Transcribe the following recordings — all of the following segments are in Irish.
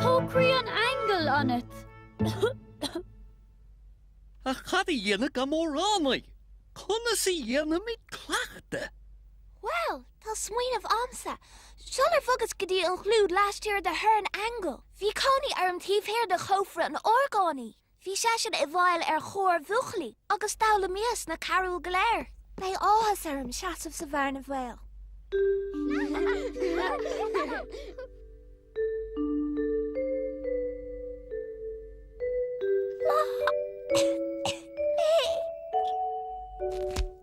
Tá croí an aingil ionat. Ach cad a dhéanfaidh am amhránaí? Conas a dhéanfaimid cleachtadh? Bhuel, tá smaoineamh a'msa. Sular bhogas go dtí an chlúid laistiar de thor an aingil, bhí cónaí orm taobh thiar de chófra an orgánaí. Bhí seisean i bhfeighil ar chór bhuachaillí agus d'fhoghlaimíos na carúil go léir. Beidh áthas orm seasamh sa bhearna bhaoil.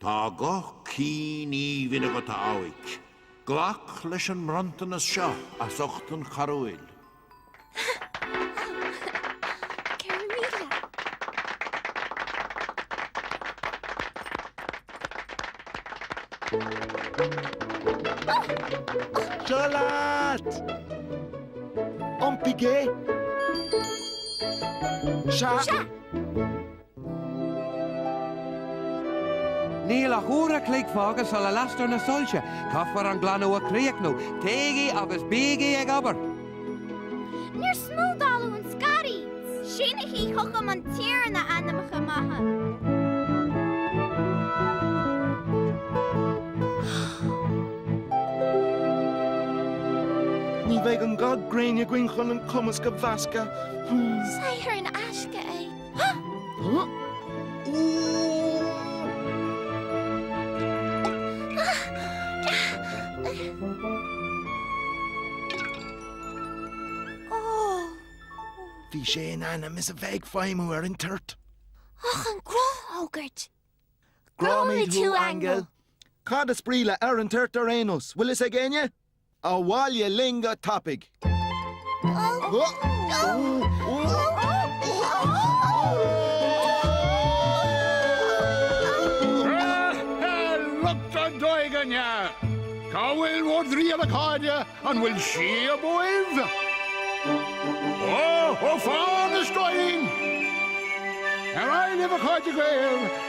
Tá guth cinn aoibhinn agat a mhic. Glac leis an mbronntanas seo as ucht an charúil. Seo leat! Iompaigh é! Sea! Níl ach uair a chloig fágtha sula lastar na soilse. Caithfear an glanadh a chríochnú. Téigí agus bígí ag obair! Níor smúdáladh an scairf! Sínigí chugam an t-iarann ainmneacha maithe. Ní bheidh an ga gréine againn chun an cumasc a mheascadh. Saothar in aisce é. Bhí sé in ainm is a bheith ag feidhmiú ar an toirt. Ach an gnáthfhógairt! Gráim thú, Aingeal! Cad is brí le 'ar an toirt' ar aon nós? Bhfuil fhios ag éinne? Abhaile linn go tapaidh! Lucht an doigaine! Cá bhfuil bhur dtriall a chairde, an bhfuil síob uaibh? Ó, ó fán istoín! Ar aghaidh libh a chairde Gael!